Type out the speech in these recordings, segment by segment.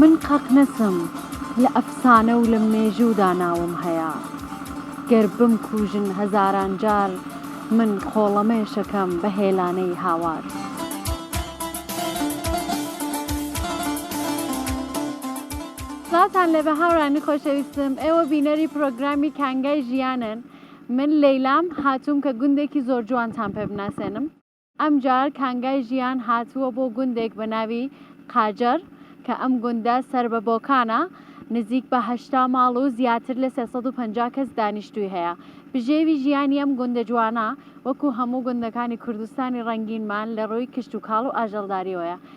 من قەت نەسم لە ئەفسانە و لە مێژوودا ناوم هەیە گەر بمکوژن هەزاران جار من خۆڵەمێشەکەم بە هێلانەی هاوار. سڵاوتان لێبێ هاورانی خۆشەویستم ئێوە بینەری پرۆگرامی کانگای ژیانن من لەیلام هاتووم کە گوندێکی زۆرجوانتان پێ بناسێنم. ئەمجار کانگای ژیان هاتووە بۆ گوندێک بە ناوی قاجەر کە ئەم گوندە سەر بە بۆکانە، نزیک بە هەشتا ماڵ و زیاتر لە سێ سەد و پەنجا کەس دانیشتووی هەیە. بژێوی ژیانی ئەم گوندە جوانە وەکو هەموو گوندەکانی کوردستانی ڕەنگینمان لە ڕووی کشتوکاڵ و ئاژەڵداریەوەیە،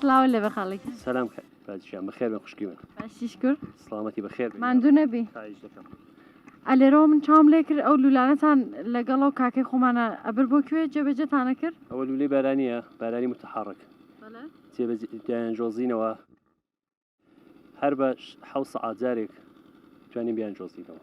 سڵاو لە بەخاڵێک سلام پادشان بەخێر بە خوشکی من باشیش کرد سلامەتی بەخێر ماندوو نەبی ئەلێرەوە من چاوم لێ کرد ئەو لولانەتان لەگەڵ و کاکەی خۆمانە ئەبر بۆ کوێ جێبەجێتانە کرد ئەوە لولەی بارانیە بارانی متحڕک جێبەجێیان جۆزینەوە هەر بە حەو سەعات جارێک توانین بیان جۆزینەوە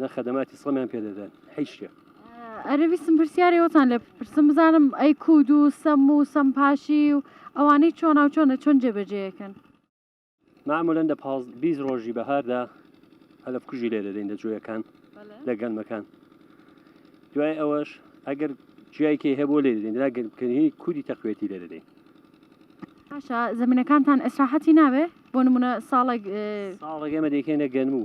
نە خەدەماتی سڵمیان پێدەدەن هیچ شتێک. ئەرەویستم پرسیارێ وەتان لێ پرسم بزانم ئەی کود و سەم و سەم پاشی و ئەوانەی چۆن ناو چۆنە چۆن جێبەجێەکەن معمولەن دە پاز بیست ڕۆژی بەهاردا هەلف کوژی لێ دەدەین لە جوۆیەکان لە گەنمەکان دوای ئەوەش ئەگەر جیایکێ هەیە بۆ لێ دەدەین دراگەنکردنی کودی تەقوێتی لێ دەدەین باشە زمینەکانتان ئەسراحەتی ناوێ بۆ نمونە ساڵێک ساڵێک ئێمە دەکەینە گەنم و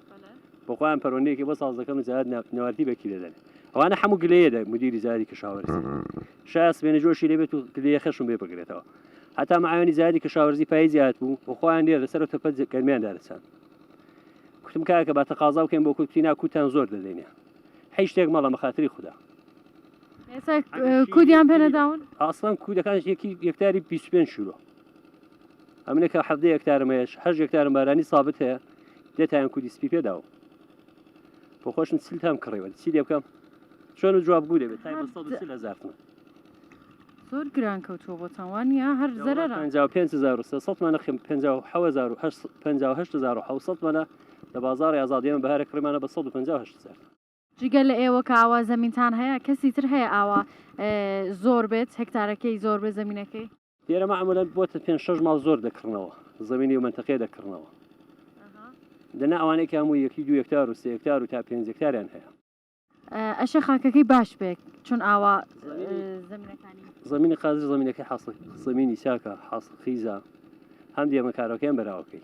بۆ خۆیان پەرۆندەیەکی بۆ ساز دەکەن و جارات ناپنەوارتی بەکی دەدەن ئەوانە هەموو گلەیە دە مدیری زاری کەشاوەرزی شاس بێنە جۆشی لێبێت و گلەیە خەشم بێ بگرێتەوە هەتا معیانی زاری کەشاوەرزی پای زیاد بوو و خۆیان لێ لەسەر تەپە گەرمیان دارسان کوتم کاکە بە تەقازاو کەم بۆ کوتی ناکوتان زۆر دەدەینێ هیچ شتێک مەڵە مەخاتری خوددا کودیان پێنەداون ئاسان کودەکان یەکی یەکتاری 25 شورۆ ئەمنە کە حەفدە یەکتارم هەیەش هەش یەکتارم بارانی سابت هەیە دێتایان کودی سپی پێداوە بۆ خۆشم سل تام کڕیوە چی لێ بکەم چۆن و جواب گوو دەبێت هزارتمە زۆر گران کەوتووە بۆ تاوانیا هەر زەر 500مانە خم 500 لە بازار ئازادیان بەهارە کڕمانە بە 150 هزار جگە لە ئێوە کە ئاوا زەمینتان هەیە کەسی تر هەیە ئاوا زۆر بێت هێکتارەکەی زۆر بێت زەمینەکەی؟ لێرە مەعموولەن بۆ پێنج شەش ماڵ زۆر دەکڕنەوە زەمینی و مەنتەقەیە دەکڕنەوە دەنا ئەوانەی کە هەموو یەکی دوو هێکتار و سێ هێکتار و تا پێنج هێکتاریان هەیە ئەشێ خاکەکەی باش بێت چون ئاوا زمینی قازی زمینەکەی حاصل زمینی چاکە حاصل خیزە هەم دێمەکارەکەیان بەراوەکەی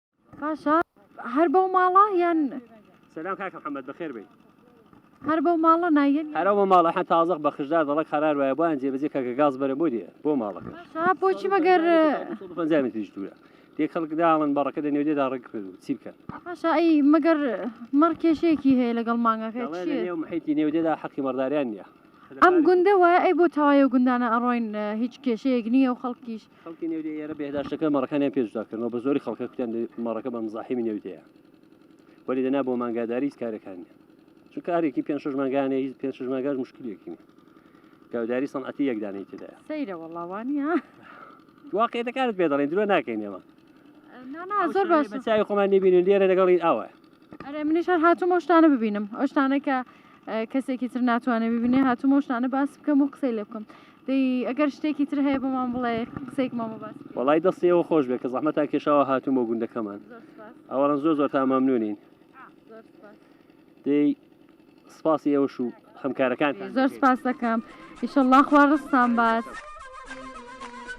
باشە هەر بەو ماڵە یان سلام کاک محمد بخير بي هەر بەو ماڵە نایەن هەرە بۆ ماڵە حە تازەق بە خشدار دەڵک قرار وایە بۆیان جێبەجێ کە کە گاز بەرە بۆ دیە بۆ ماڵەکە باشە بۆچی مەگەر پەنجامی توش دوورە دێ خەڵک داڵن بەڕەکە لە نێودێدا ڕێک کرد و چی بکەن باشە ئەی مەگەر مەڕ کێشەیەکی هەیە لەگەڵ مانگەکە دەڵێ لە چییە؟ نێو محیتی نێودێدا حەقی مەڕداریان نییە ئەم گوندە وایە ئەی بۆ تەوایە گوندانە ئەڕۆین هیچ کێشەیەک نییە و خەڵکیش خەڵکی نێودێ ئێرە بێداشتەکە مەڕەکانیان پێشدا کردنەوە بە زۆری خەڵکە کوتیان مەڕەکە بە مزاحیمی نێودەیە وەری دەنا بۆ مانگاداری هیچ کارەکانی چون کارێکی پێ شش مانگانە هیچ پێ شش ماگەر مشکلێکی گەوداری سەنعەتی یەکدانەی تدا سەیرە وەڵاوانی ها واقعەکانت پێ دەڵێن درۆ ناکەین ئێمە زۆر باش چای خۆمان نبینین لێرە لەگەڵی ئاوە ئەرێ منیش هەر هاتوو ئەوشتانە ببینم ئەوشتانە کە کەسێکی تر ناتوانێت ببینێ هاتووم و شتانە باس بکەم و قسەی لێ بکەم دەی ئەگەر شتێکی تر هەیە بەمان بڵێ قسێکمان بە باس وڵی دەستی ئەوە خۆش بێت کە زەحمە تا کێشاوە هاتووم بۆ گوندەکەمان ئەوەڕەن زۆر زۆر تا مەمنونین دەی سپاسی ئێوەش و هەمکارەکان زۆر سپاس دەکەم ئیشەڵڵا خوا ڕستان باس.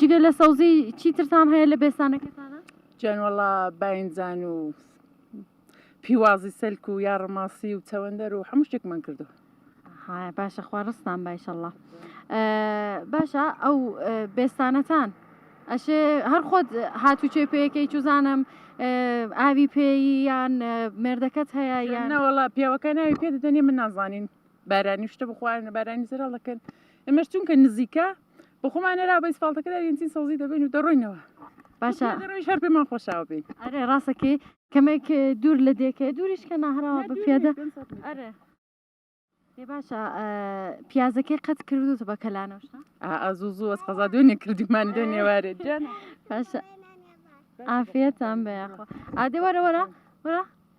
جگە لە سەوزی چیترتان هەیە لە بێستانەکەتانە؟ جان وەڵا باینجان و پیوازی سەلک و یا ڕماسی و چەوەندەر و هەموو شتێکمان کردو باشە خوا ڕستان باشەله باشە ئەو بێستانەتان ئەشێ هەر خۆت هاتوچێ پێەکەی چزانم ئاوی پێی یان مردەکەت هەیە یانەوەڵا پیاوەکە ناوی پێ دەدەنێ من نازانین بارانی شتە بخواێنە بارانی زرا دەکەن ئێمەش چونکە نزیکە بە خۆمان نەرا بەیس فڵتەکەدا یەنچین سەوزی دەبین و دەڕۆینەوە باشە شەر پێمان خۆشاو بین ئەرێ ڕاستەکەی کەمێک دوور لە دێکە دووریش کە ناهراوە بە پیادە ئەرێ باشە پیازەکەی قەت کردوتە بە کەلانەوە ئازوو زوو ئەس قەزا دوێنێ کردیمان دێ نێوارێ باشە ئافێتان بەیاخۆ ئادێ وەرە وەرە وەرە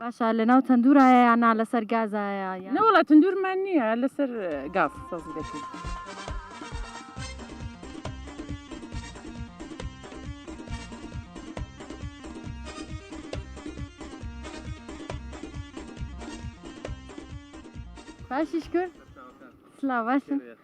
باشە لەناو تەندورایە یان نا لەسەر گازایە نەوەڵا تەندورمان نییە لەسەر گاز سەوزی دەکەین. باشیش کرد سلااو باشن.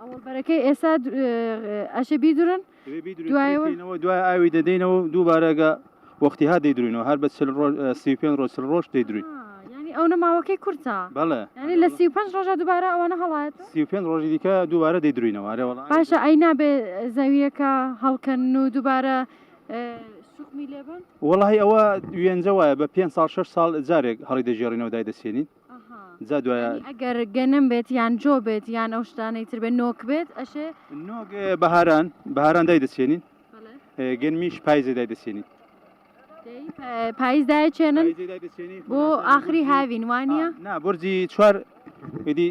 ئەوەڵبەرەکەی ئێسا ئەشێ بیدرن دوایەوە دوای ئاوی دەدەینەوە دووبارەگە وەختی ها دەیدروینەوە هەر بە سی پێ ڕۆژ ڕۆژ دەیدروین ئەو نەماوەکەی کورتە بەڵێ ینی لە سی پێ ڕۆژە دووبارە ئەوانە هەڵات سی پێ ڕۆژی دیکە دووبارە دەیدروینەوەوە باشە ئەی نابێ زەویەکە هەڵکەن و دووبارە وڵی ئەوە وێنجە وایە بە پێ سال 6 سال جارێک هەڵی دەژێڕینەوە دای دەسێنین جا دوایە ئەگەر گەنم بێت یان جۆ بێت یان ئەو شتانەی تر بێت نۆک بێت ئەشێ نۆک بەهاران بەهاران دای دەچێنین گەنمیش پایزێ دای دەچێنین پایزدای چێنن بۆ ئاخری هاوین وانە نا بۆرجی چوار ئیدی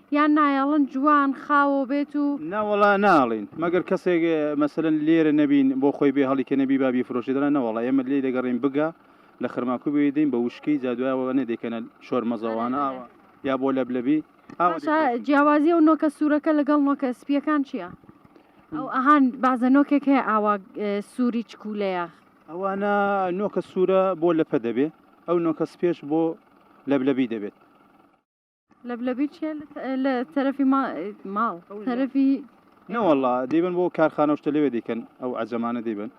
یان نایەڵن جوان خاوەو بێت و. نا وەڵا ناڵێین مەگەر کەسێک مەسەلەن لێرە نەبین بۆ خۆی بێ هەڵی کە نەبی با بیفرۆشێ دەنا نەوەڵا ئێمە لێی دەگەڕێین بگا لە خرماکوو بێی دەین بە وشکی جا دوای ئەوانە دەیکەنە شۆر مەزەوانە ئاوا یا بۆ لەبلەبی ئاوا باشە دەیکەن. جیاوازی ئەو نۆکە سوورەکە لەگەڵ نۆکە سپییەکان چییە؟ ئەو ئەهان بازە نۆکێک هەیە ئاوا سووری چکوولەیە. ئەوانە نۆکە سوورە بۆ لەپە دەبێ ئەو نۆکە سپییەش بۆ لەبلەبی دەبێت. لەبلەبی چیە لە تەرەفی ماڵ تەرەفی نەوەڵا دەیبن بۆ کارخانەشتە لەوێ دیکەن ئەو ئەجەمانە دەیبن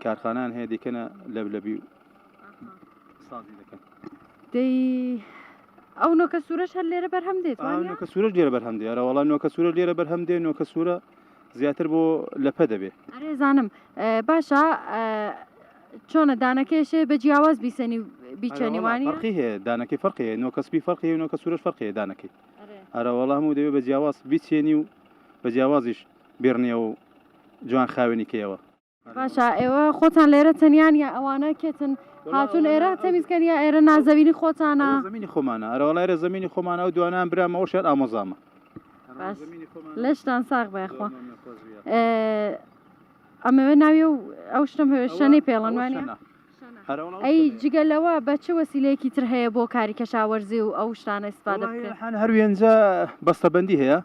کارخانان هەیە دیکەنە لەبلەبی و سازی دەکەن دەی ئەو نۆکە سوورەش هەر لێرە بەرهەم دێت نۆکە سوورەش لێرە بەرهەم دێرەوەڵا نۆکە سوورە لێرە بەرهەم دێ نۆکە سوورە زیاتر بۆ لە پە دەبێ. ئەرێ زانم باشە چۆنە دانەکەیشێ بە جیاواز بیسەنی و بیچەنی وانە؟ فەرقی هەیە دانەکەی فەرقی هەیە نۆکە سپی فەرقی هەیە نۆکە سوورەش فەرقی هەیە دانەکەی ئەرە وەڵا هەموو دەبێ بە جیاواز بیچێنی و بە جیاوازیش بێڕنیەوە و جوان خاوێنی کەیەوە. باشە ئێوە خۆتان لێرە تەنیان یا ئەوانە کێتن هاتون ئێرە تەمیزکەن یا ئێرە نازەوینی خۆتانە زمینی خۆمانە ئەرەوەڵێرە زمینی خۆمانە و دوانان برامەوە شێت ئامۆزامە لەشتان ساغ بەخوا ئەمەوێ ناوی و ئەو شتم هەوێشەنەی پێڵەنوانی ئەی جگە لەوە بە چ وەسیلەیەکی تر هەیە بۆ کاری کەشاوەرزی و ئەو شتانە استفادە هەر وێنجە بەستەبندی هەیە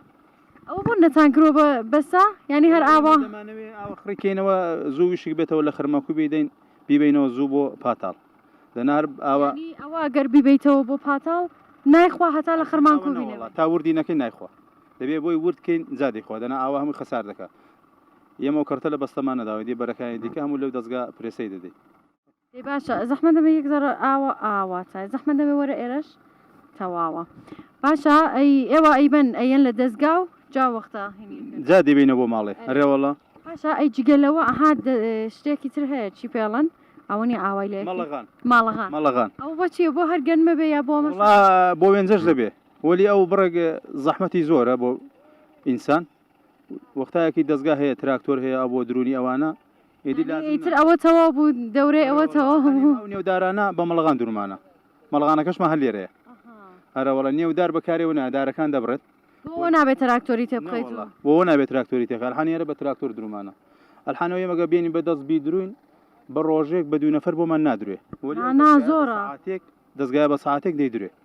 ئەوە بۆ نەتانکرۆ بە بەسە یعنی هەر ئاوا دەمانەوێ ئاوە خڕکەینەوە زوو ویشک بێتەوە لە خرمەکو بیدەین بیبینەوە زوو بۆ پاتاڵ دەنار ئاوە ئەوە گەر بیبیتەوە بۆ پاتاڵ نایخوا هەتا لە خرمان کو تا وردی نەکەی نایخوا دەبێ بۆی وردکەین زادی خوا دەنا ئاوا هەموو خەسار دەکات یەمە کەرتە لە بەستەمانەداوە دی بەرەکانی دیکە هەموو لەو دەستگا پرێسەی دەدەیت دەی باشە زەحمەت نەبێ یەک زەڕە ئاوە ئاوا چای زەحمەت نەبێ وەرە ئێرەش تەواوە باشە ئەی ئێوە ئەیبەن ئەیەن لە دەزگا و جا وەختە جا دەیبینە بۆ ماڵێ ئەرێ وەڵا باشە ئەی جگەلەوە ئەها شتێکی تر هەیە چی پێڵەن ئەوە نیە ئاوای لێ مەڵەغان ماڵەغان مەڵەغان ئەو بۆچیە بۆ هەر گەنمە بێ یا بۆ مەسە وڵا بۆ وێنجەش دەبێ وەلی ئەو بڕێک زەحمەتی زۆرە بۆ ئینسان وەختایەکی دەزگا هەیە تراکتۆر هەیە ئەو بۆ درونی ئەوانە ئیدی یعنی لازم ئیتر ئەوە تەواو بوو دەورەی ئەوە تەواو بوو ئەو نێودارانە بە مەڵغان درومانە مەڵغانەکەشمە هەر لێرەیە هەرە وەڵە نێودار بەکارێ و نادارەکان دەبڕێت بۆ نابێت تراکتۆری تێ بخەیت و بۆ نابێت تراکتۆری تێکە الحانیێرە بە تراکتۆر درومانە الحانەوە ئێمەگە بێنی بە دەست بیدروین بە ڕۆژێک بە دوو نەفەر بۆمان نادروێ وەلی ئەو آنا دەزگایە بە زۆرە. سعاتێک دەزگای بە ساعتێک دەیدروێ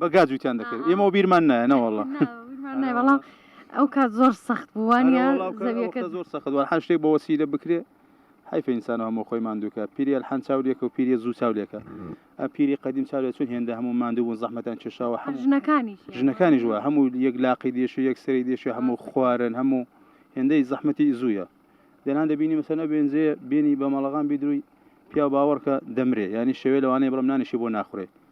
بە گا جووتیان دەکرد ئێمە بیرمان نایە نەوەڵە بەڵام ئەو کات زۆر سەخت بووانە زەویەکە زۆر سەخت وە هەر شتێک بە وەسیلە بکرێ حیف ئینسان هەمۆ خۆی مادووکە پیریە حەن چاولێکە و پیری زوو چاولێکە پیری قدیم چاولێ چون هێندە هەموو مادوو بوون زەحمەتان کێشاوە هەم ژنەکانی ژنەکانی ژوە هەموو یەک لاقی دێشی یەک سری دێشی هەموو خوارن هەموو هێندەی زەحمەتی زووە دەنان دەبینی مەسەنە بێنزێ بینی بە مەڵغان بیدروی پیا باوەڕکە دەمرێ ینی شەوێ لەوانەیە بڵم نانیشی بۆ ناخورێت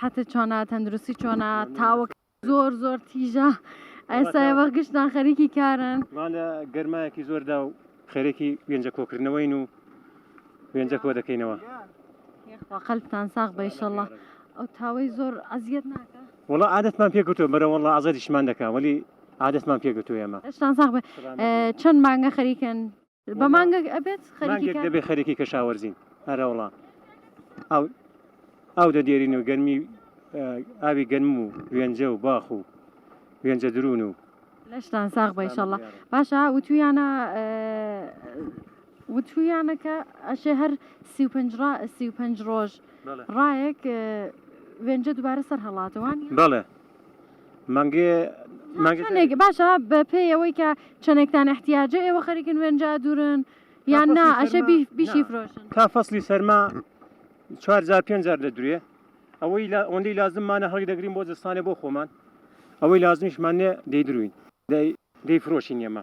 حەتت چۆنە تەندروستی چۆنە تاوەک زۆر زۆر تیژە ئەسای وە گشتان خەریکی کارن مالە گەرمایەکی زۆردا و خەرێکی وێنجە کۆکردنەوەین و وێنجە کۆ دەکەینەوە قەلتان ساغ بەیشەڵە ئەو تاوەی زۆر ئەزیەت ناکە وڵە عادەتمان پێکوتۆ بەرە وڵە ئازادیشمان دەکە وەلی عادەتمان پێگوتو ئێمە شتان ساغ چەند مانگە خەریکن بە مانگەک ئەبێت خەریکێک دەبێت خەرێکی کەشاوەرزین هەرەوڵا ئەو ئەو دە دێرین و گەرمی ئاوی گەنم و وێنجە و باخ و وێنجە درون و لەشتان ساغ بەیشەڵە باشە وتویانە وتویانەکە ئەشێ هەر سی و پنج سی و پنج ڕۆژ ڕایەک وێنجە دووبارە سەر هەڵاتەوان بڵێ مانگێ باشە بە پێی ئەوەی کە چەنێکتان احتیاجە ئێوە خەریکن وێنجا دوورن یان نا ئەشە بیشی فرۆشن تا فەصلی سەرما چوارجار پێنجار لە درێ ئەوەی لە ئەوەندەی لازممانە هەڵی دەگرین بۆ زستانێ بۆ خۆمان ئەوەی لازمیشمانێ دەیدروین دەیفرۆشین ئێمە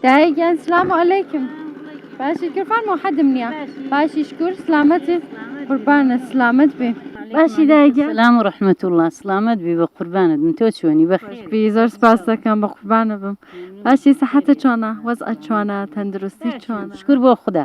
دایە گیان سلام و علیکم باشی کرفان محدم نییە باشی شکر سلامەت قوربانە سلامەت بێ باشی دایە گیان سلام و رحمت الله سلامت بی بە قوربانت من تۆ چۆنی بەخێر بی زۆر سپاس دەکەم بە قوربانە بم باشی سەحەتە چۆنە وەزعە چۆنە تەندروستی چۆنە شکر بۆ خدا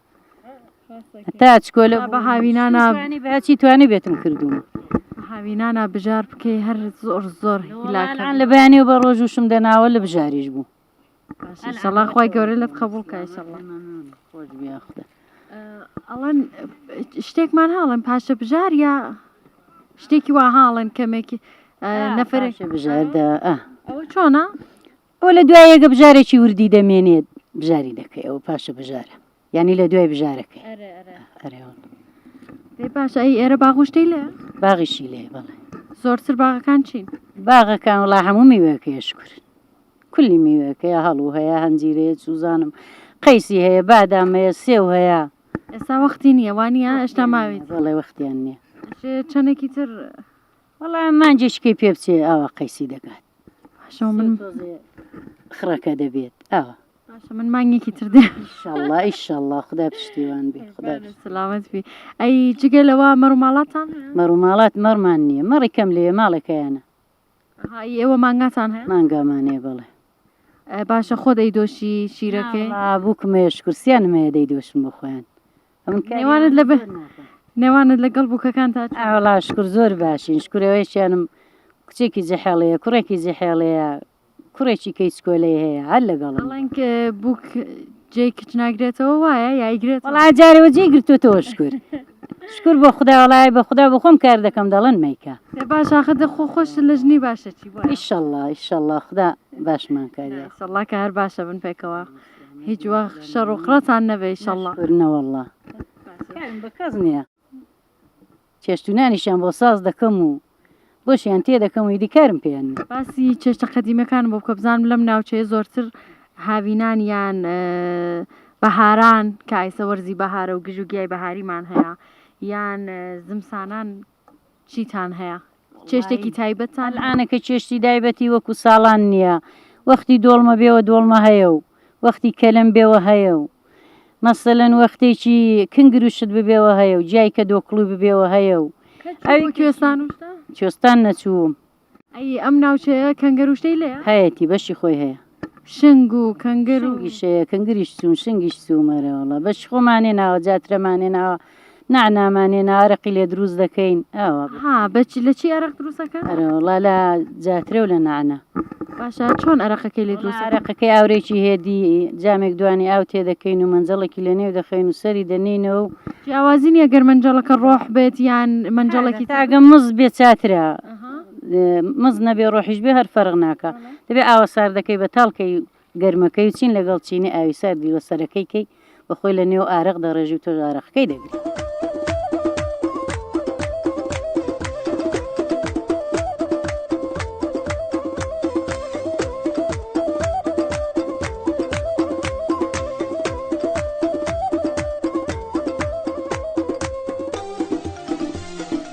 تاچ کۆلە بە هاوینانە بەچی توانی بێتم کردووە هاوینانە بژار بکەی هەر زۆر زۆر هیلاکان لە بەیانی و بە ڕۆژوشم دەناوە لە بژاریش بوو سەڵا خی گەورە لەت قبول کای سەڵا خۆش بیاخدا ئەڵەن شتێکمان هاڵم پاشە بژار یا شتێکی وا هاڵن کەمێکی نەفرێک بژاردە ئەوە چۆنا ئەوە لە دوای یەکە بژارێکی وردی دەمێنێت بژاری دەکەی ئەوە پاشە بژارە یعنی لە دوای بژارەکەی پاش ئەی ئێرە باغشتی لێ باغیشی لێ بەڵێ زۆرتر باغەکان چین باغەکان وڵا هەموو میوەکەی شکر کولی میوەکەی هەڵو هەیە هەنجیرەیە سوزانم قەیسی هەیە بادامەیە سێو هەیە ئێستا وەختی نییە وانە ئێشتا ماوێت بەڵێ وەختیان نییە چەندێکی تر وەڵا مانجێکی کەی پێ بچێ ئاوا قەیسی دەکات باشەوە من خڕەکە دەبێت ئاوا باشە من مانگێکی تر دێ ئیشەڵڵا ئیشەڵڵا خدا پشتیوان بێ خدا پشت- سلامت بی ئەی جگە لەوە مەڕ و ماڵاتان هەیە؟ مەڕ و ماڵات مەڕمان نییە مەڕی کەم لێ ماڵێکەیانە های ئێوە مانگاتان هەیە مانگامانێ بڵێ ئە، باشە خۆ دەیدۆشی شیرەکەی بووکمێش کورسیانمەیە دەی دۆشم بۆ خۆیان نێوانت لە بە نێوانت لەگەڵ بووکەکان تا ئاوڵا شکر زۆر باشین شکرەوەیشیانم کچێکی جەحێڵەیە کوڕێکی جەحێڵەیە کوڕێکی کەی سکۆلەی هەیە هەر لەگەڵ بەڵێنگ بووک جێ کچ ناگرێتەوە وایە یایگرێت وڵا جارەوە جێ گرتوتەوە شکر شکر بۆ خدا وڵای بە خدا بۆ خۆم کار دەکەم دەڵن میکە باش آخە دەخۆ خۆش لە ژنی باشەکی بۆ ئیشەڵڵا ئیشەڵڵا خدا باشمان کاری سەڵا کە هەر باشە بن پێکەوە هیچ وەخت شەڕ و قڕتان نەبێ ئیشەڵڵا. نەشکور نەوەڵڵا کارم بە کەس نییە، چێشت و نانیشیان بۆ ساز دەکەم و بۆشیان تێ دەکەم و ئیدی کارم پێیان نییە. باسی چێشتە قەدیمیەکانم بۆ بکە بزانم لەم ناوچەیە زۆرتر هاوینان یان بەهاران کە ئایسە وەرزی بەهارە و گژوگیای بەهاریمان هەیە یان زمسانان. چیتان هەیە؟ چێشتێکی تایبەتتان هەیە؟ ئەلعانەکە چێشتی دایبەتی وەکو ساڵان نیە وەختی دۆڵمە بێوە دۆڵمە هەیە و وەختی کەلەم بێوە هەیە و مەسەلەن وەختێکی کنگروشت ببێوە هەیە و جیای کە دۆکڵوی ببێوە هەیە و ئەوی کوێستان و شتان؟ کوێستان نەچووم ئەی ئەم ناوچەیە کەنگەر و شتەی لێیە؟ هەیەتی بەشی خۆی هەیە. شنگ و کەنگر و شنگیش هەیە کەنگریش چوون شنگیش چووم ئەرێ وەڵا بەشی خۆمان هێناوە جاترەمان هێناوە نەعنامان هێنا ئەرەقی لێ دروست دەکەین ئاوا بوو. ها بە چ لە چی ئەرەق دروست ئەکەن؟ ئەرێ وەڵا لە جاترە و لە نەعنا. باشە چۆن ئەرەقەکەی لێ دروست ئەکەن؟ ئەرەقەکەی ئاورێکی هێدی جامێک دوانی ئاو تێ دەکەین و مەنجەڵێکی لەنێو دەخەین و سەری دەنێینەوە و جیاوازی نییە گەر مەنجەڵەکە ڕۆح بێت یان مەنجەڵێکی تر؟ تاکە مز بێت چاترە. مز نەبێ ڕۆحیش بێ هەر فەرق ناکا دەبێ ئاوە ساردەکەی بەتاڵ کەی و گەرمەکەی و چین لەگەڵ چینی ئاوی ساردی لە سەرەکەی کەی و خۆی لە نێو ئارەق دەڕێژی و تۆش ئارەقەکەی دەگری.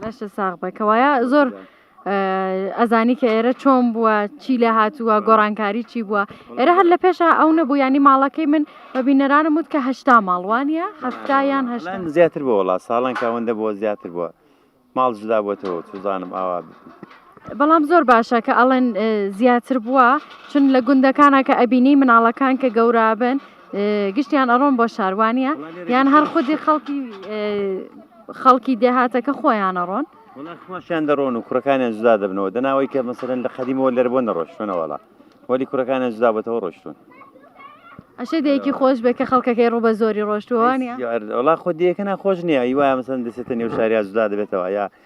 باشە ساغ بە کەوایە زۆر ئەزانی کە ئێرە چۆن بووە چی لە هاتووە گۆڕانکاری چی بووە ئێرە هەر لە پێشە ئەو نەبوو ینی ماڵەکەی من بە بینەرانم وت کە هشتا ماڵوانە هەفتایان هەشت زیاتر بۆ وڵات ساڵان کاوەندە بۆ زیاتر بووە ماڵ جدا بۆتەوە توزانم ئاوا بەڵام زۆر باشە کە ئەڵێن زیاتر بووە چون لە گوندەکانە کە ئەبینی مناڵەکان کە گەورابن گشتیان ئەڕۆن بۆ شاروانە یان هەر خودی خەڵکی خەڵکی دێهاتەکە خۆیان ئەڕۆن خۆشیان دەڕۆن و کوڕەکانیان جدا دەبنەوە دەناوەی کە مەسەرن لە قەدیمەوە لەربوون نەڕۆشتونەوەڵا وەلی کوڕەکانیان جدا بەتەوە ڕۆشتون ئەشێ دەیەکی خۆش بێ کە خەڵکەکەی ڕوو بە زۆری ڕۆشتووانە وڵا خۆ دیەکەنا خۆش نییە هیوایە مەسەن دەسێتە نێو شاریا جدا دەبێتەوە یا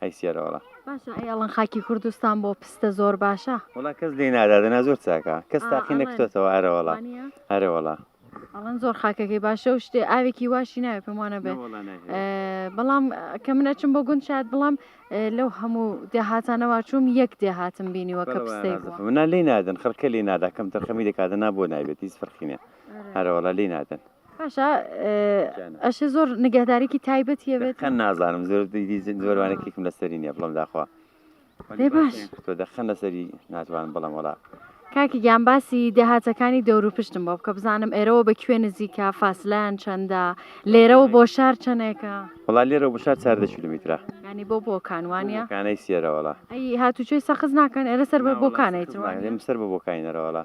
ئەی سیارە وەڵا باشە ئەی ئەڵەن خاکی کوردستان بۆ پستە زۆر باشە وڵا کەس لێ نادادەنا زۆر چاکە کەس تاقی نەکتۆتەوە ئەرەوەڵا ئەرەوەڵا ئەڵەن زۆر خاکەکەی باشە و شتێ ئاوێکی واشی ناوێ پێمانە بێ بەڵام کە من ئەچم بۆ گوند شاد بڵام لەو هەموو دێهاتانەوە چوم یەک دێهاتم بینیوە کە پستەی منە لی نادن خەرکە لی نادا کەم تەرخەمی دەکاتە نا بۆ نابێت هیچ فەرخینە هەرەوەڵا لی نادن باشە ئەشێ زۆر نگەهدارێکی تایبەت یەوێت خەن نازانم زۆر زۆرانێکێکم لەسەری نیە بڵم داخوا باش تۆ دەخەن لەسەری ناتوان بڵم وڵا کاکی گیان باسی دێهاتەکانی دەورو پشتم بۆ بکە بزانم ئێرەوە بە کوێ نزیکە فاسلان چەندە لێرەوە بۆ شار چەندێکە وڵا لێرە بۆ شار چاردە کیلومیترا ینی بۆ بۆکانوانە کانەی سێرەوەڵا هاتوچۆی سەخز ناکەن ئێرە سەر بە بۆکانێت سەر بە بۆکانەرەوەڵا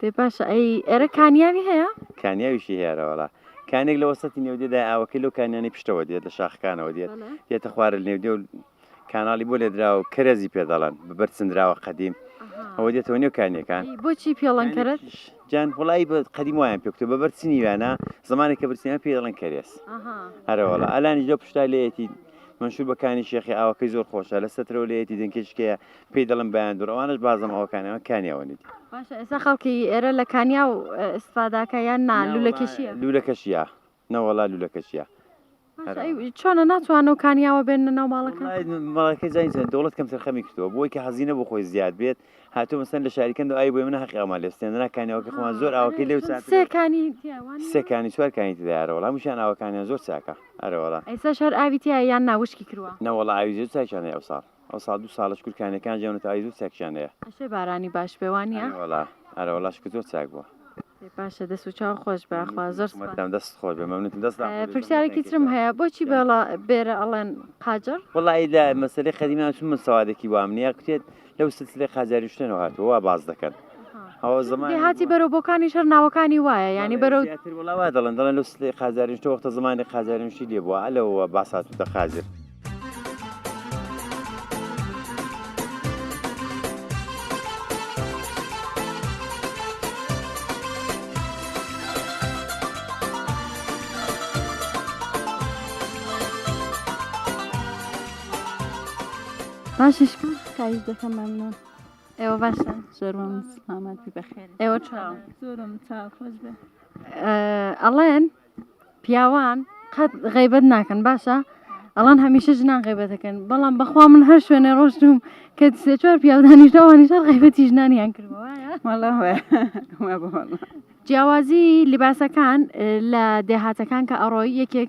دەی باشە ئەی ئێرە کانیاوی هەیە؟ کانیاویشی هێرە وەڵا کانێک لە وەسەتی نێودێدا ئاوەکەی لەو کانیانی پشتەوە دێت لە شاخەکانەوە دێت بەڵێ. دێتە خوارە نێودێ و کاناڵی بۆ لێدرا و کەرەزی پێ دەڵەن بەبەر چندراوە قەدیم ئەها. ئەوە دێتەوە نێو کانیەکان ئی بۆچی پێڵەن کەرە؟ کانێکیش جان وڵی بە قەدیم وایان پێکوتە بەبەر چنی ویانە زمانی کە برسیان پێ دەڵێن کەرێس ئەها. هەرە وەڵا ئەلانیش لەو پشتا لێیەتی منشور بە کانی شێخی ئاوەکەی زۆر خۆشە لە سەترەوە لێیەتی دەنکێشکەیە پێی دەڵێن بایندور ئەوانەش بازنە ئەوەکانیان کانیاوە نێتی باشە ئێستا خەڵکی ئێرە لە کانیا و ئیسفاداکە یان نا لولەکەشیە لولەکەشیە نەوەڵا لولەکەشیە چۆنە ناتوان و کانیاوە بێن ناو ماڵەکە ماڵەکە جاینچە دەوڵەت کەم سەرخەمی کردەوە بۆی کە هەزینە بۆ خۆی زیاد بێت هاتو مەسەن لە شاریکەند و ئای بۆی منە حەقی ئەومان لێستێنرا کانیاوەکە خۆمان زۆر ئاوەکە لێو سەکانی سەکانی چوارکانی تدارەوە هەمووشان ئاوەکانیان زۆر چاکە ئەرەوەڵا ئێستا شار ئاوی تیا یان ناوشکی کردوە نەوەڵ ئاوی زۆر چاکیانە ئەو ساڵ ئەوساڵ دوو ساڵە شکور کانیەکان جەونە تەواوی زۆر چاکیان هەیە ئەشێ بارانی باش بێ وانیە ئەرێ وەڵا ئەرە وەڵا شکر زۆر چاک بووە ئێ باشە دەست و چاو خۆش بێ خوا زۆر سوپاس مەتام دەست خۆش بێ مەمنونتم دەست داخۆ بێ، زۆر پرسیارێکی مەتان ترم کێشە. هەیە بۆچی بێڵا بێرە ئەڵێن قاجەڕ وەڵا ئیدە مەسەلەی قەدیمی ئەم چون من سەوادێکی وام نییە کتێت لەو سلسلەی قاجاری شتێنەوە هاتووە وا باس دەکەن دێهاتی بەرەو بۆکانیش هەر ناوەکانی وایە یانی بەرەو وڵاوا دەڵێن دەڵێن لەو سلەی قازارین تۆ وەختە زمانی قازارنشی لێ بووە لەوە باساتوتە قازر. باشە شکر خایش دەکەم مەمنون. ئێوە باشە زۆرم سلامەتی بەخێر ئێوە چاو زۆرم چاو خۆش بێ ئەڵێن پیاوان قەت غیبەت ناکەن باشە ئەڵان هەمیشە ژنان غیبەت دەکەن بەڵام بەخوا من هەر شوێنێ ڕۆشتوم کە سێ چوار پیاودانیش داوانیشە غیبەتی ژنانیان کردوە جیاوازی لباسەکان لە دێهاتەکان کە ئەڕۆی یەکێک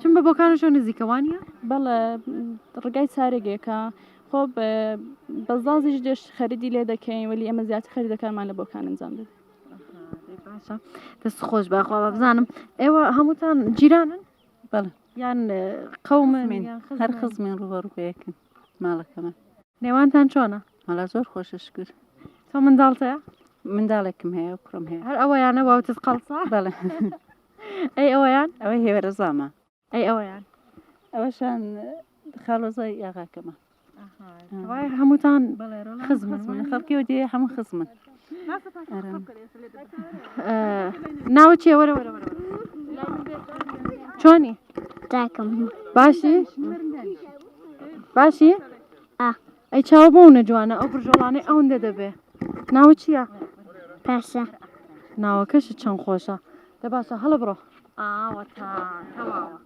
چون بە بۆکان و شەو نزیکە وانیە؟ بەڵێ ڕگای چارێک یەکە خۆ بەزازیش دێش خەریدی لێ دەکەین ولی ئەمە زیاتر خەریدەکانمان لە بۆکان ئەنجام دەدەین دەست خۆش بەخوا بزانم ئێوە هەمووتان جیرانن بەڵێ یان قەومن هەر خزمین ڕوبەڕوبەیەکن ماڵەکەمان نێوانتان چۆنە هەڵا زۆر خۆشە شکر تۆ منداڵتەیە منداڵێکم هەیە کوڕم هەیە هەر ئەوەیانە واوتت قەڵسا بەڵێ ئەی ئەویان ئەوەی هێوەرەزامە ئەی ئەویان ئەوەشان خاڵۆزای یاغاکەمە وای هەمووتان خزمن من خەڵکیەوە دێ هەموو خزمن ناوە چێ وەرە وەرە وەرە چۆنی تاکەم باشی باشی ئەی چاوە بەو نەجوانە ئەو برژۆڵانەی ئەوندە دەبێ ناوە چییە؟ پاشا ناوەکەش چەند خۆشە دە باشە هەڵە بڕۆ ئاوە تا تەواوە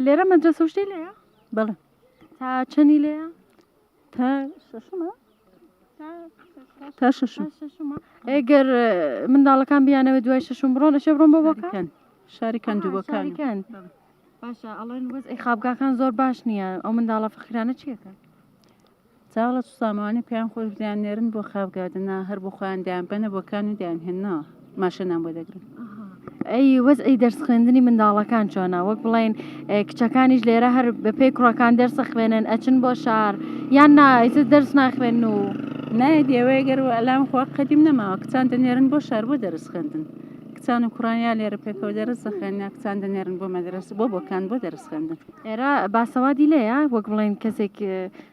لێرە مەدرسە شتەی لێە بەڵێ تا چەنی لێە تا شەشمە تا شەشم ئەگەر منداڵەکان بیانەوە دوای شەشم بڕۆن ئەشێ بڕۆن بۆ بۆکان شاری کەندووەکان کەند باشە ئەڵێن وەز ئەی خابگاکان زۆر باش نییە ئەو منداڵە فەخرانە چیەکە چاڵە سامانی پێیان خۆش دیان نێرن بۆ خابگادنا هەر بۆ خۆیان دیان بەنە بۆکان و دیان هێناوە ماشێنان بۆ دەگرن. ئەی وەزعی دەرس خوێندنی منداڵەکان چۆنا وەک بڵین کچەکانیش لێرە هەر بەپی کوڕەکان دەرسە خوێنن ئەچن بۆ شار یان نایتە دەرس ناخوێن و نایەت ئێوەیە گەر ئەلام خۆ قەدیم نەماوە کچان دەنێرن بۆ شار بۆ دەرس خوێندن کچان و کوڕانیا لێرە پێکەوە دەرس دەخێن کچان دەنێرن بۆ مەدرس بۆ بۆکان بۆ دەرس خوێندن ئێرە باسەوادی لەیە وەک بڵێن کەسێک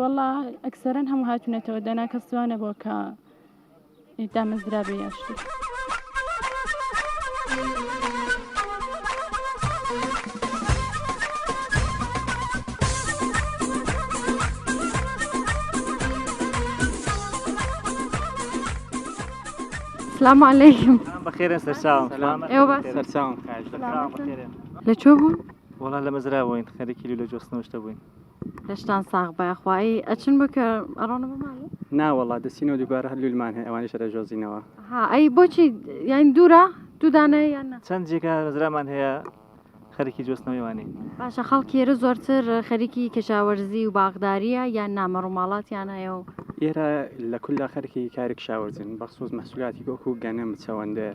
وەڵا ئەکسەرەن هەموو هاتونەتەوە دەنا کەس وا نەبووە کە دامەزرا بێ یا شتێک سلام علیکم بەخێرە سەرچاوم ئێوە باس سەرچاوم خاش سلامتن. لە چۆ بوون وڵا لە مەزرا بووین خەرێکی لە جۆستنەوەشتە بووین لەشتان ساغ بە خوایی ئەچن بۆ کە ئەڕۆنە بۆ ماڵێ ناوەڵا دەسینەوە دووبارە هەر لولمان هەیە ئەوانی شەرە ژۆزینەوە ها ئەی بۆچی یان دوورە دوودانەیە یان چەند جێگا ڕزرامان هەیە خەرکی جۆستنەوەیوانی باشە خەڵکی ئێرە زۆرتر خەریکی کەشاوەرزی و باغداریە یان نامە ڕووماڵاتیان هەیە و ئێرە لە کولا خەرکی کاری کشاوەرزین بەخصوص مەسولاتی گۆک و گەنم چەوەندەر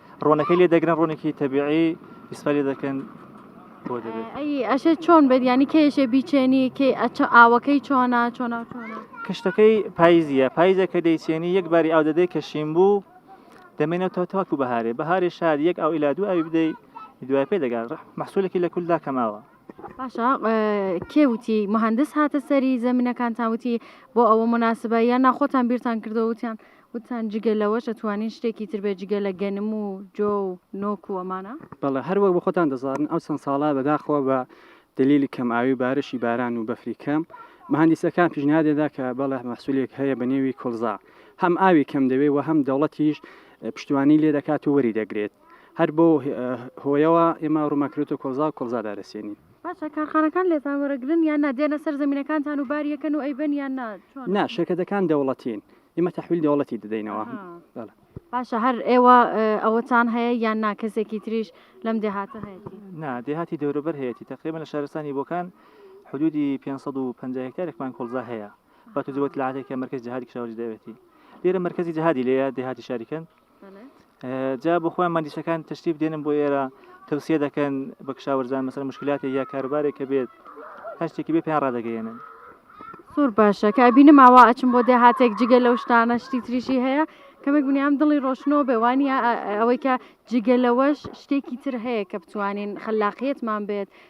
ڕۆنەکەی لێ دەگرن ڕۆنێکی تەبیعی ئیسفا لێ دەکەن بۆ دەبێت ئەی ئەشێ چۆن بێت ینی کێشێ بیچێنی کێ ئەچە ئاوەکەی چۆنا چۆنا چۆنا کشتەکەی پاییزیە پاییزە کە دەیچێنی یەک باری ئاو دەدەی کە شین بوو دەمێنێتەوە تاکو بەهارێ بەهارێ شار یەک ئەو ئیلا دوو ئەوی بدەی دوای پێ دەگات محسولێکی لە کولدا کەماوە باشە کێ وتی مهندس هاتە سەری زمینەکانتان وتی بۆ ئەوە مناسبە یان ناخۆتان بیرتان کردەوەتیان وتتان جگە لەوەش ئەتوانین شتێکی تر بێت جگە لە گەنم و جۆ و نۆک و ئەمانە؟ بەڵێ، هەر وەک بە خۆتان دەزانن ئەو چەند ساڵە بەداخەوە بە دەلیلی کەمئاوی و بارشی باران و بەفری کەم، مەهەندیسەکان پیشنهاد لێدا کە بەڵێ مەحسولێک هەیە بە نێوی کۆڵزا هەم ئاوی کەم دەوێت و هەم دەوڵەتیش پشتیوانی لێ دەکات و وەری دەگرێت، هەر بەو هۆیەوە ئێمە ڕوومان کردۆتە کۆڵزا و کۆڵزا دادەسێنین. باشە کارخانەکان لێتان وەرەگرن یان نا، دێنە سەر زەمینەکانتان و بار یەکەن و ئەیبەن یان نا، چۆنە؟ نا، شیرکەتەکان دەوڵەتین، ئمە تحویل دەوڵەتی دەدەینەوە باشە هەر ئێوە ئەوەتان هەیە یان ناکەسێکی تریش لەم دێهاتە هەیە نا دێهاتی دەوروبەر هەیەی تقریبا لە شارستانی بۆکان حدودی 550 هکتارێکمان کۆڵزا هەیە بە تو جوت لاتێکە مرکز جهادی کشاوەری دەوێتی لێرە مرکزی جهادی لەیە دێهاتی شاریکەن جا بۆ خۆیان مادیشەکان تەشتیب دێنن بۆ ئێرە تەوسیە دەکەن بە کشاوەرزان مەسەر مشکلاتی یا کاربارێکە بێت هەر شتێکی بێ پێیان ڕدەگەیێنن سوور باشە کە بینم ئاوا ئەچم بۆ دێهاتێک جگە لەو شتانە شتی تریشی هەیە کەمێک بنیام دڵی ڕۆشنەوە بێوانە ئەوەی کە جگە لەوەش شتێکی تر هەیە کە بتوانین خلاقیتمان بێت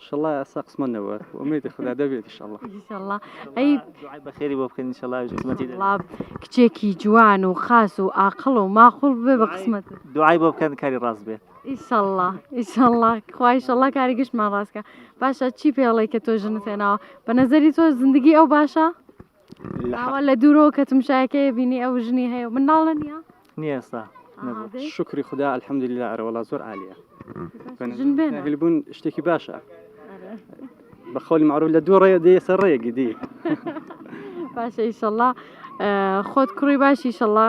ئیشەڵا ئەسا قسمەت نەبوە ئومێدی خودا دەبێت ئیشەڵا ئیشەڵا ئەی دوعای بەخێری بۆ بکەن ئیشەڵا ئەویش قسمەتی دەبێت وڵا کچێکی جوان و خاس و ئاقڵ و ماقوڵ بێ بە قسمەت دوعای بۆ بکەن کاری ڕاست بێت ئیشەڵا ئیشەڵا خوا ئیشەڵا کاری گشتمان ڕاستکە باشە چی پێڵێ کە تۆ ژنت هێناوە بە نەزەری تۆ زندگی ئەو باشە ئاوا لە دوورەوە کە تمشاەکەی بینی ئەو ژنی هەیە و منداڵە نیە نیە ئێستا شکری خدا الحەمدللا ئەرەوەڵا زۆر عالیە هلبوون شتێکی باشە بە خۆلی معروف لە دوو ڕێ دێ سەر ڕێگی دی باشە ئیشەڵا خۆت کوڕی باشی شەڵا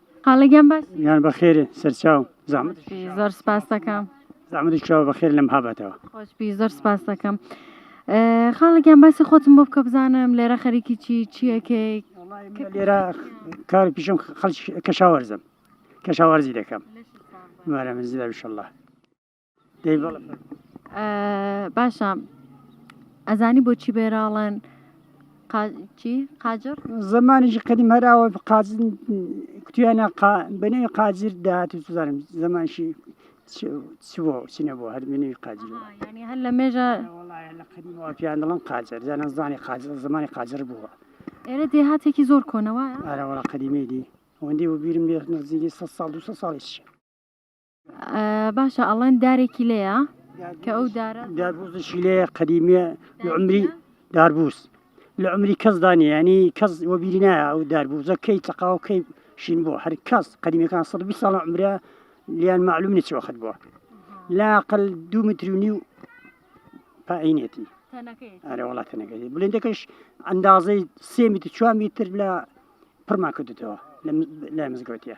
قاڵگیان باش یان بەخێر سەرچاو زەحمەت زۆر سپاسەکەم زەحمەتی چاو بەخێر لەم هابەتەوە خۆشبی زۆر سپاسەکەم خاڵگیان باسی خۆتم بۆ بکە بزانم لێرە خەریکی چی چیەکەی لێرە کار پیشم خەڵ کەشاوەرزم کەشاوەرزی دەکەم مارە منزیدا بشله باشە ئەزانی بۆچی بێراڵەن قاجر زمانیش قدیم هەراوە قازن کوتیانە بنێ قاجر داهات و زانم زمانشی چوە چینە بۆ هەر منی قاجر هەر لە مێژە پیان دڵم قاجر زانە زانی قاجر زمانی قاجر بووە ئێرە دێهاتێکی زۆر کۆنەوە ئارەوەڵە قدیمی دی وەندی و بیرم لێ نزیگی سە ساڵ دو ساڵیش باشە ئەڵێن دارێکی لێە کە ئەو دارە داربوزشی لێ قەدیمیە عمری داربوس لە عمری کەس دانێ ینی کەس وەبیری نایە ئەو داربوزە کەی تەقاو کەی شین بۆ هەر کەس قەدیمەکان 120 ساڵ عمرە لیان معلوم نچ وەخت بووە لاقل دوو مترونی و پاینێتی ئەرە وڵات نەگەری بلندەکەش ئەندازەی سێ میتر چوار میتر لە پڕمان کردێتەوە لە مزگەوتە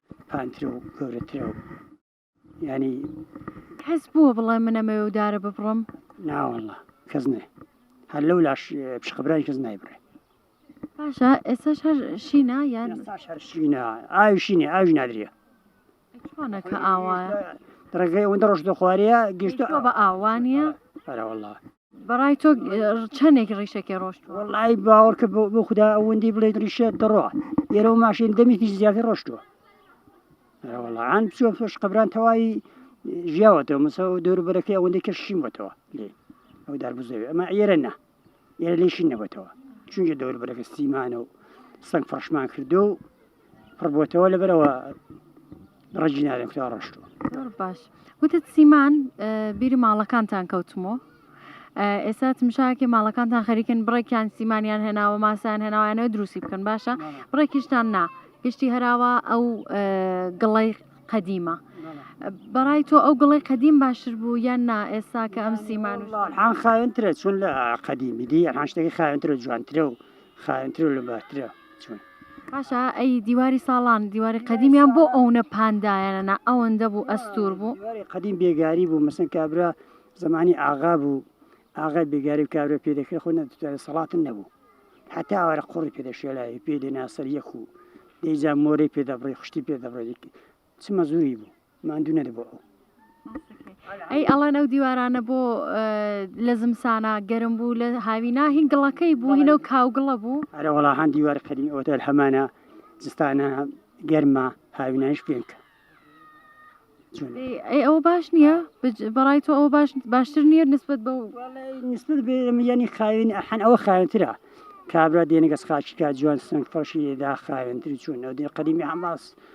پانترە و گەورەترە و ینی کەس بووە بڵێ منەمەوێ و دارە ببڕم ناوەڵە کەس نێ هەر لەو لاش پشقبرای کەس نایبڕێ باشە ئێستا هەر شینا یان شینا ئاوی شینێ ئاوی نادرە چۆنەکە ئاوایە ڕێگەی ئەوەندە ڕۆژ دەخواریە گەشتە بە ئاوانە هەرەوەڵە بەڕای تۆ چەندێک ڕیشەکە ڕۆشت وڵی باوەڕکە بۆ خوددا ئەوەندی بڵێ ڕیشە دەڕۆ ئێرە و ماشین دەمێکی زیاتر ڕۆشتووە وڵان بچۆ فش قبران تەواوی ژیاوەتەوە مسە و دەوروبەرەکەی ئەوەندەی کەشیمەتەوە لێ ئەو دار بزەوێ ئەمە ئێرە نا ئێرە لێشی نەبەتەوە چونکە دەوروبەرەکە سیمانە و سنگ فڕشمان کردو پڕبووتەوە لەبەرەوە ڕەجی نارێن کورا ڕۆشتووە زۆر باش وتت سیمان اه، بیری ماڵەکانتان کەوتمۆ اه، ئێستا تمشاکێ ماڵەکانتان خەریکن بڕێکیان سیمانیان هێناوە ماسیان هێناوانەوە دروستی بکەن باشە بڕێکیشتان نا گشتی هەراوە ئەو اه، گڵەی قەدیمە بەڕای تۆ ئەو گڵەی قەدیم باشتر بوو یان نا ئێستا کە ئەم سیمان و ئەلحان خاوێنترە چون لە قەدیمی دی ئەلحان شتێکی خاوێنترە جوانترە و خاوێنترە و لەبارترە چۆن؟ باشە ئەی دیواری ساڵان دیواری قەدیمیان بۆ ئەونە پاندایەنەنا ئەوەندە بوو ئەستور بوو قدیم بێگاری بوو مەسن کابرا زمانی ئاغا بوو ئاغای بێگاری و کابرا پێ دەکرێت خۆ نەدەتوانێت سەڵاتن نەبوو حتا ئەوارە قوڕی پێدەشێلای پێ دێناسەر یەک و دەیجا مۆرەی پێدەبڕی خوشتی پێدەبڕێت چما زوری بوو ماندوو نەدەبوو ئەو. ئەی ئەڵێن ئەو دیوارانە بۆ لە زمسانا گەرم بوو لە هاوینا هین گڵەکەی بوو هینە و کاوگڵە بوو ئەرە وڵا هەند دیوار قەدیم ئەوە دەر هەمانە زستانە گەرمە هاوینایش پێنکە ئەی ئەوە باش نییە بەڕای تۆ ئەوە باش باشتر نییە نسبت بە نسبت بێمیانی خاوێن ئەحەن ئەوە خاوێنترە کابرا دێنەگەس خاچکە جوان سنگ فەشی دا خاوێنتر چوون ئەو دێ قەدیمی هەماس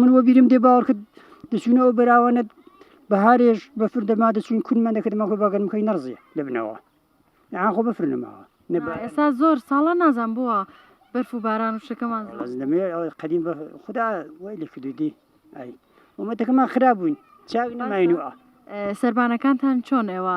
من وە بیرم دێ باوەڕ کرد دەچوونەوە بەراوانە بەهارێش بەفر دەما دەچوون کونمە دەکردمە خۆ بەگەرم خۆی نەڕزیە لەبنەوە یان خۆ بەفر نەماوە نەبا ئێستا زۆر ساڵە نازان بووە بەرف و باران و شەکەمان زۆر. ئەز دەمێ ئەوەی قەدیم بە خدا وای لێ کردووی دی ئای ومەتەکەمان خراب بووین چاک نەماین و ئا ئە، سەربانەکانتان چۆن ئێوە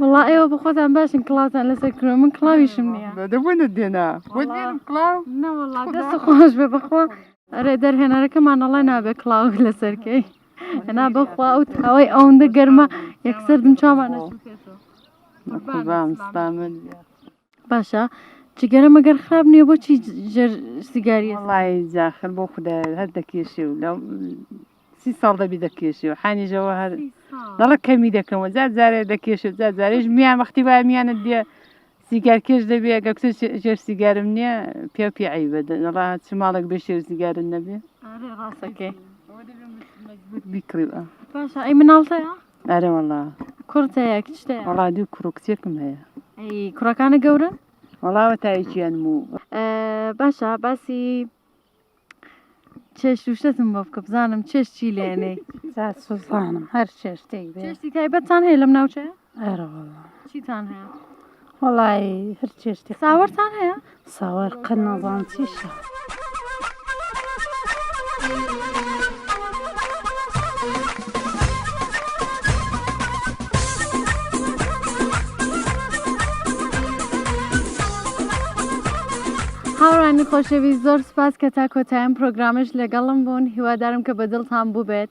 وڵا ئێوە بخۆتان باشن کڵاتان لەسەر کرۆ من کڵاویشم نیە دەبوونە دێنا خۆش بێ بەخوا ئەرێ دەرهێنەرەکەمانەڵای نابێت کڵاو لەسەرکەی ئەنا بەخوا ئەو تاوای ئەوەندە گەرمە یەکسەر دم چاوانە. قوربان ستامە. باشە جگەرە مەگەر خراپ نییە بۆچی ژێر سیگاری وڵی زاخر بۆ خدا هەر دەکێشێ و لە سی ساڵ دەبی دەکێشێ و حانیژەوە هەر دەڵە کەمی دەکەمەوە زار زارێ دەکێشێ زار زارێش میان وەختی وای میانت دێ سیگار کێش دەبێ گە کچ ژێر سیگارم نییە پێ پێ عیبە دەڵا چ ماڵێک بێ شێر سیگارن نەبێ ڕاستەکەی بیکڕیوە باشە ئەی مناڵتەیە ئەرێ وەڵا کوڕت هەیە کچت هەیە؟ وەڵا دوو کوڕ و کچێکم هەیە ئەی کوڕەکانە گەورەن؟ وەڵاوە تایەکیان و باشە باسی چێش توشتتم بۆ بکە بزانم چێش چی لێنێ سوزانم هەر چێشتێک چێشتی تایبەتتان هەیە لەم ناوچەیە؟ ئەرەوەڵا چیتان هەیە؟ وەڵایی هەر چێشتی ساوەرتان هەیە ساوەر قەت نازانم چیشە. هاوڕانی خۆشەوی زۆر سپاس کە تا کۆتایەم پرۆگرامش لەگەڵم بوون هیوادارم کە بە دڵتان بووبێت